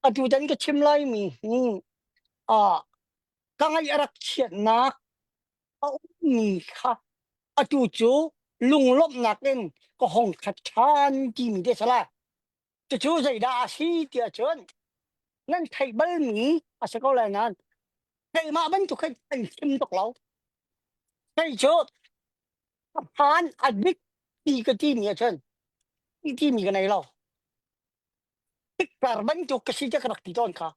atutan ka chim laimi hi uh, ka ngaih a rak chiatnak a ummi kha atu cu lunglawmhnak in ka hong khat ṭhan timi te sala cucu zeidah a si tiah cun nan theih balmi a si ko lai nan keimah bantuk khin an chim tuk lo kei cu a phan a dik ti ka timi a cun ti timi ka nei lo Tikpar bantuk ka si te ka rak ti tawn kha.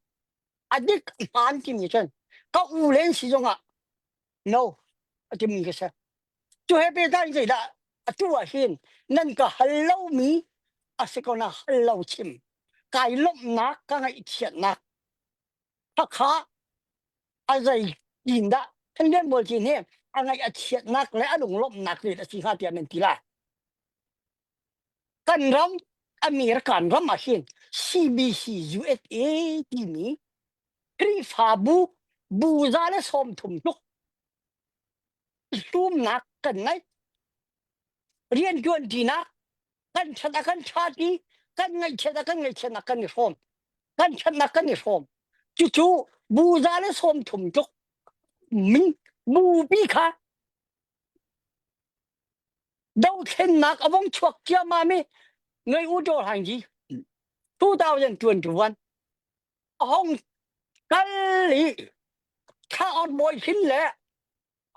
A dik hmaan timi cun ka u len si zong ah no a timmi ka se. Cu he pe dan zei dah atu ah hin nan ka hal lomi a si ko na hal lo chim. Kai lomhnak ka ngaihchiatnak. Hakha a zei tin dah Thandian Bolchin hi a ngaih a chiatnak le a lunglomhnak rin a si hnga tiah men ti la. kan ram American ram ah hin CBC USA timi Khrihfabu bu za le sawm thum tluk hlumnak kan ngei rian tuan tinak kan that a kan that i kan ngaihchiat a kan ngaihchiatnak kan i hrawm kan thatnak kan i hrawm cucu bu za le sawm thum tluk min bupi kha Dothlennak a vong chuak ciammam i ngai u dawr hang gi 2021 a hong kal i thaor bawi hrin le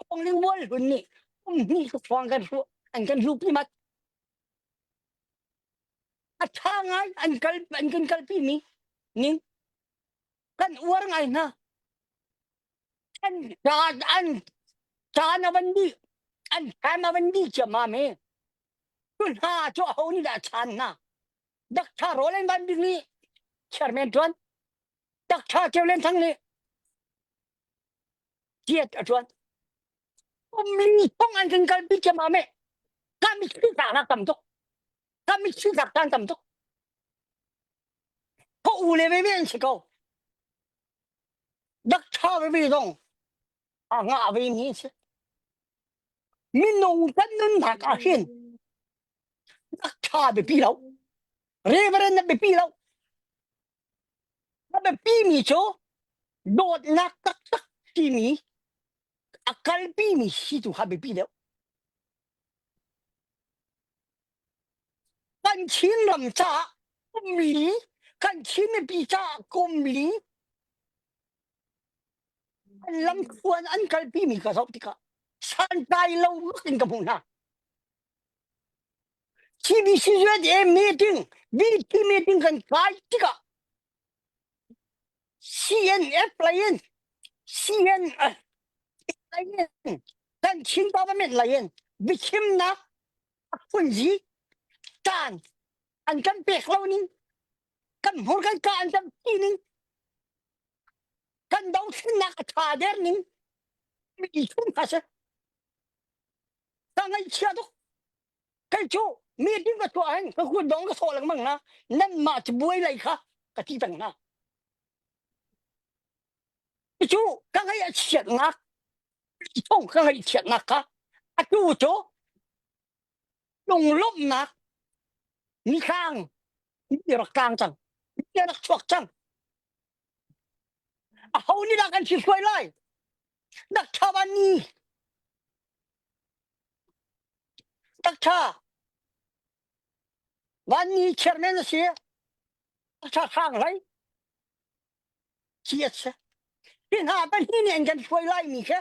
hong ling bual hlun nih um hni su thuang kan ru an kan hlu pi mat a tha ngai an kal an kan kal pi mi ning kan uar ngai hna Caan an caan avan bi an time avan bi chiam ma me tu hna chu ho ni da chan na dak tha rolen van big ni chairman tuan dak tha kevlen thang ni tiet atuan umli phong an kan kal bi chiam ma me kami chi ta na tam tok kami chi ta tan tam tok ko ule me me an chi ko dak tha ve dong a nga ve ni che minung kan nun nak a hin dak tha be pi lo reverend na be pi lo na be pi mi cho dawt nak tak tak ti mi akal pi mi si tu ha be pi deu Kan Chinram caah ummi, kan Chin mipi caah kumli an lamthluan an kalpimi ka zoh tikah santlai lo in ka hmuh hna. CBC USA meeting, BP meeting kan kai tikah CNF lain CNF lain kan Chin government lain biachimnak a phunzi caan an kan pek lo ning kan hmur kan ka an kan pi ning kan dothlennak a tha der ning mi thum ha se ka ngaihchia tuk kan cu meeting ka tuah hin ka kun dong ka sawh lengmang na nan mah ci buai lai kha ka ti peng hna cu ka ngai a chiat ngak thong ka ngai chiat ngak ka atu cu lung lomh nak ni khang ni rak tang cang ni rak chuak cang a ho ni la kan si suai lai dak thaban ni Takṭha, van ni chiar men a si. A ṭha hrang hlei. Ci a si. Hi hna pahnih nih an kan hruai lai mi khe.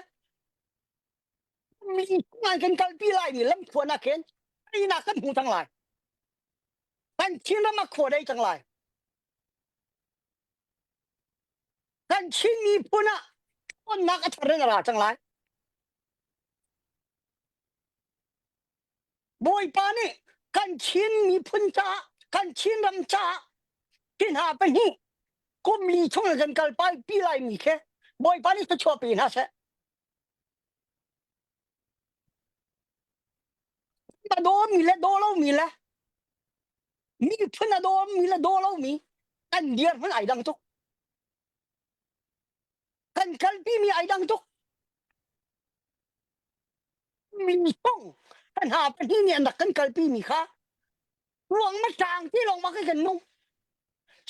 Mi an kan kalpi lai mi lamkhuan ah khin. Ainak kan hmu cang lai. Kan Chin ram a khua dei cang lai. Kan Chin miphun ah tonnak a thar in a ra cang lai. Bawipa nih kan Chin miphun caah kan Chin ram caah hi hna pahnih kum li chung kan kal pai pi lai mi khe Bawipa nih thluachuah pe hna seh. A dawm mi le daw lo mi le miphun a dawm mi le daw lo mi kan dir hmun ai dang tuk. Kan kalpimi ai dang tuk. Mi thong kan ha pahnih nih an rak kan kalpimi kha ruang ma tlang ti lawng ma kai kan nung.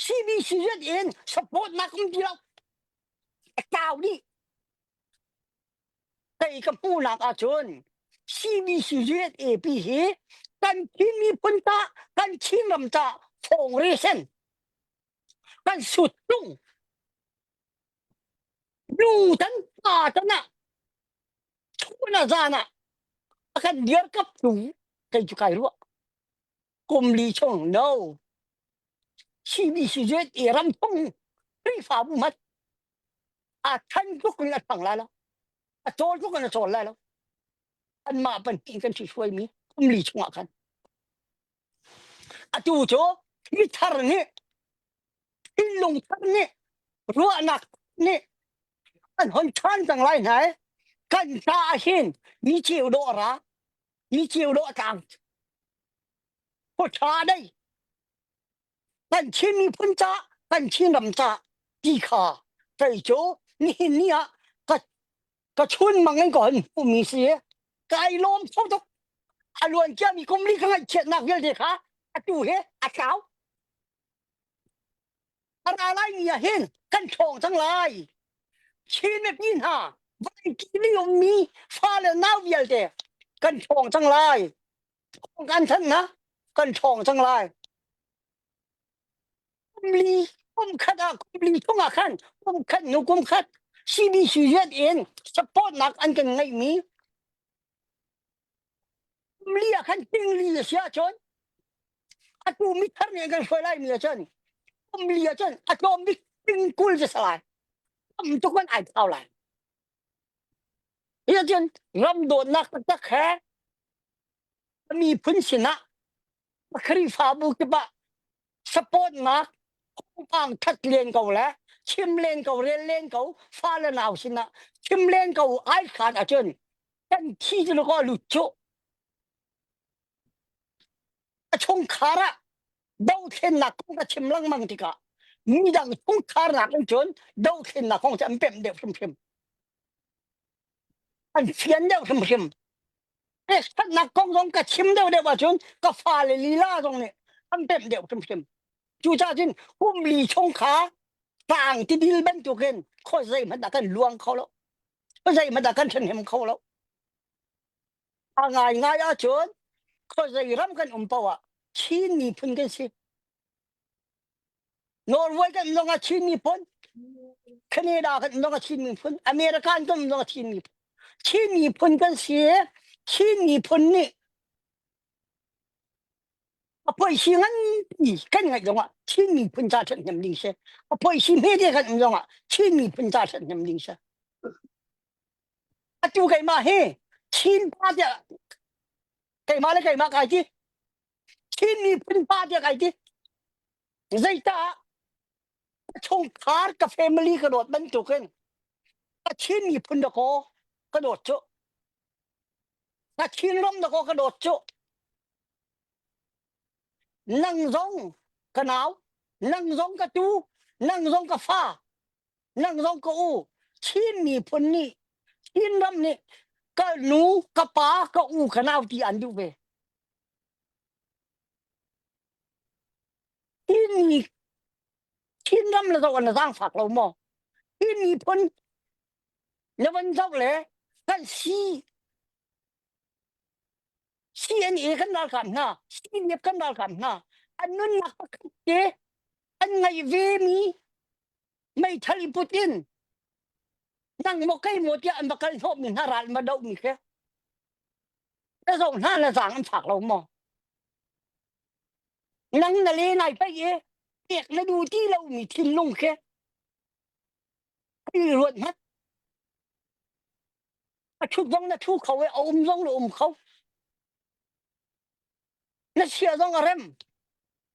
CBCZ in support na kum ti lo. Tau nih kei ka hmuhnak ahcun CBCZ AP hi kan Chin miphun ta kan Chin ram ta thawng resen kan sut tung nu tan pa tan ah chun a zan ah a kan dir kap tung kai chu kai ruah kum li chung no CBC zet i ram tung Khrihfa bu mat a than tuk in a thang la lo a tol tuk in a chol la lo an mah pan ti kan si suai mi kum li chung ah khan Atu cu hi thar nih thinlung thar nih ruahnak nih an hon ṭhan cang lai hna i kan hna ah hin mi ceu dawh ra mi ceu dawh tlang khuaṭha dei kan Chin miphun ca kan Chin ram ca ti kha kei cu nihin ni ah ka ka chun mang in ko hin umi si kai lom tho tuk a luan kia mi kum li ka ngai chiat nak vialte kha atu he a tlau ara lai ni ah hin kan thong thang lai chin me pi hna vai ki ning um mi fa le nau vialte kan thong thang lai thong kan than na kan thong thang lai Kumli kumkhat ah kumli thong ah khan kumkhat nu kumkhat CBCZ in supportnak an kan ngeihmi kumli ah khan tingli a si ahcun atu mithar nih an kan hruai laimi ahcun kumli ahcun atomic tingkul cu sa lai tam tuk an ai thau lai hi ahcun ram dawtnak taktak he a miphun sinah Khrihfabu kip ah support nak hongpang that len ko le chim len ko rel len ko fale nau sinah chim len ko ai khan achun kan thi ju ko lu chu a chung khara do thlen nak kong ka chim lang mang tika mi dang chung khar nak in chun do thlen nak kong cham pem de phim phim an fian deuh hrimhrim e statnak kong zong ka chim deuh deuh ahcun ka fale lila zong nih an pemh deuh hrimhrim cucah cun humli chung kha tang tidil bantukin kho zei hmanh dah kan luang kho lo zei hmanh dah kan then hem kho lo a ngai ngai ahcun kho zei ram kan um poah Chin miphun kan si Norway kan nong a chin mi phun Canada kan nong a chin mi phun America kan nong a chin mi phun Chin mi phun kan si Chin mi phun nih a poi si ngan pi kan ngai dong ah Chin mi phun ca that hnem ding se a poi si me te kan dong ah Chin mi phun ca that hnem ding se atu keima hi Chin pa te keima le keima kai ti Chin miphun pa tiah kai ti. Zeitah chungkhar ka family ka dawt bantuk in ka Chin miphun da ko ka dawt cu. Ka Chin ram da ko ka dawt cu. Nang zong ka nau, nang zong ka tu, nang zong ka fa, nang zong ka u. Chin miphun nih, Chin ram nih ka nu, ka pa, ka u, ka nau ti an duh ve. Hinni Chinram le zoh na zaangfak lo maw? Hinni phun na van zoh le kan si CNA kan ralkap hna, CNF kan ralkap hna, an nunnak pakhat te an ngei ve mi meithal i put in nang maw kei maw tiah an va kal hnawh mi hna ral ma doh mi khe. na zoh hna na zang an fak lo maw nang na le nai pei e pek na du ti lo mi thinlung ke i ruat ngat a thut zong na thu kho e a um zong na um kho na sia zong a rem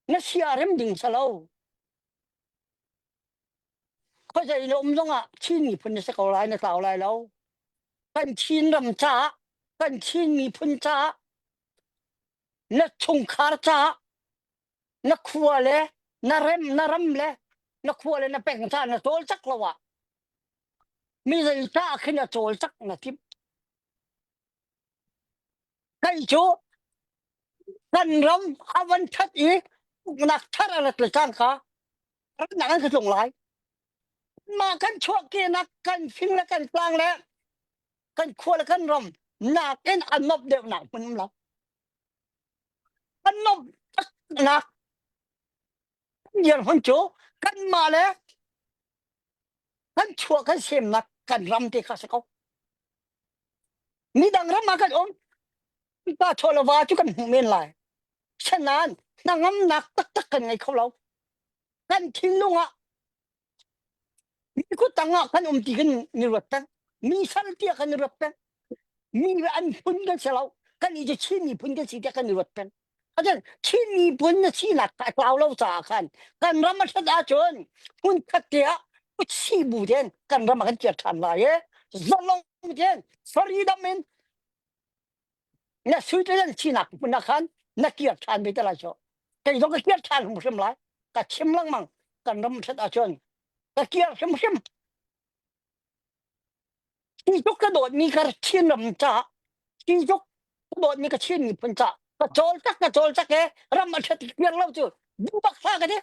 na sia a rem ding salo khawzei le um zong ah Chin miphun na si ko lai na tlau lai lo kan Chin ram caah kan Chin miphun caah na chungkhar caah na khua le na rem na ram le na khua le na peng caah na tawl cak lo ah mi zei ta khin a tawl cak na tip Kan cu kan ram a van that i nak thar a rat le caan kha rannak an ka tlung lai. Mah kan chuahkenak kan fing le kan tlang le kan khua le kan ram nak in an mop deuhnak hmun um lo. An mop taknak Ngiarhon cu kanmah le kan chuah kan semnak kan ram te kha si ko. Midang ram ah kan um. Pa chawlava cu kan hmuh men lai. Shanan, na ngamnak taktak kan ngei kho lo. Kan thinlung ah Kutang ah kan um ti kan ni ruat peng. Mi sal tia kan ni ruat peng. Mi an phun kan se lo. Kan i je Chin mi phun kan si te kan ni ruat peng. Acan Chin mi phun na si nak ka tlau lo ca khan kan ram a that ahcun phun khat te ah si bu den kan ram a kan tial than lai e. Zalong den, faridam in na sui te nan sinak hmun ah khan na kir than ve te lai so kei zong ka kir than hrim hrim lai ka chim lengmang kan ram thrat ah chun ka kir hrim hrim chi zuk ka dawt mi ka chin ram cha chi zuk ka dawt mi ka chin mi phun cha ka chol tak ka chol tak e ram a thrat kir lo chu bu bak sa ka de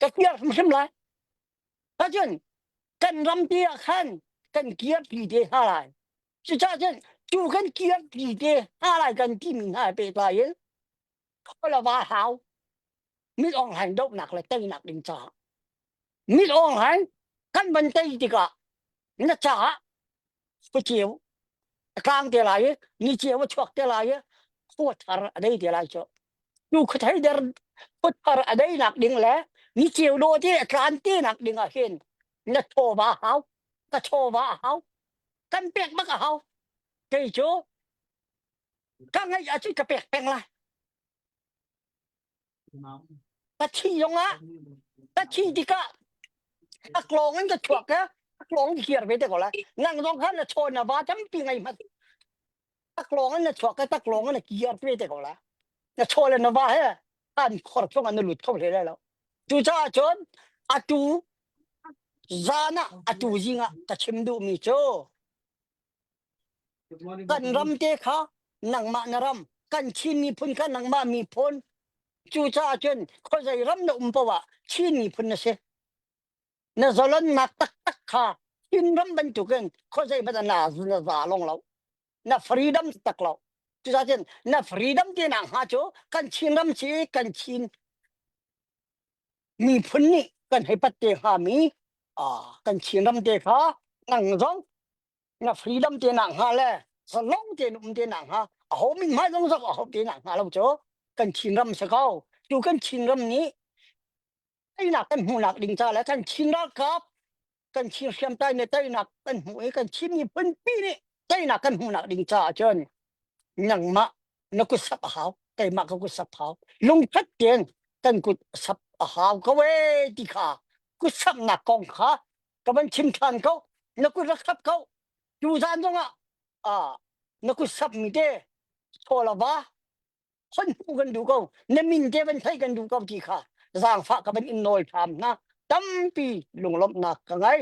ka kir hrim hrim lai Acun kan rampi ah khan kan kirpi te hna lai. Cucahcun cu kan kirpi te hna lai kan timi hna he pehtlai in khualava hau mit ong hain dohnak le teinak ding caah mit ong hain kan van tei tikah na caah ka ceu a tlang te lai i ni ceu a chuak te lai i khua thar a dei te lai cu tu khuthei der khua thar a dei nak ding le ni ceu do te a tlan te nak ding ah hin na chawva hau ka chawva a hau kan pek bak a hau kei cu ka ngai a chu ka pek peng lai Ka thin zong ah ka thin tikah a klawng in ka chuak ka a klawng i kir ve te ko la nang zong khan na chaw na va tampi ngai mat a klawng in na chuak ka ta klawng in na kir ve te ko la na chaw le na va he an khor chung an na lut kho hle lai lo cucaah cun atu zan ah atu zing ah ka chim duhmi cu kan ram te kha nangmah na ram kan Chin miphun kha nangmah miphun cucaah cun khuazei ram na um poah Chin miphun na si na zolonnak taktak kha Chin ram bantukin khuazei bata na na za long lo na freedom tak lo cucaah cun na freedom te na hnga cu kan Chin ram si kan Chin miphun nih kan hei pat te hnga mi kan Chinram te kha ngang zong na freedom te na hnga le sanong te na um te na hnga a ho min mai zong zong a ho te na hnga lo cho kan Chinram se kau tu kan Chinram nih einak kan hmuhnak ding ca le kan Chin ralkap kan thir hriam tai me tainak kan hmu i kan thim ni punpi nih tainak kan hmuhnak ding caah cun nangmah na kut sap a hau keimah ka kut sap hau lungthat ten kan kut sap a hau ko e ti kha kut sapnak kong kha ka van chim than ko na kut ra khap ko tu zan zong ah na kut sap mi te cholawa hon pu kan duh ko ne min te van thai kan duh ko ti kha zaangfah ka van in nawl tham hna tampi lunglawmhnak ka ngei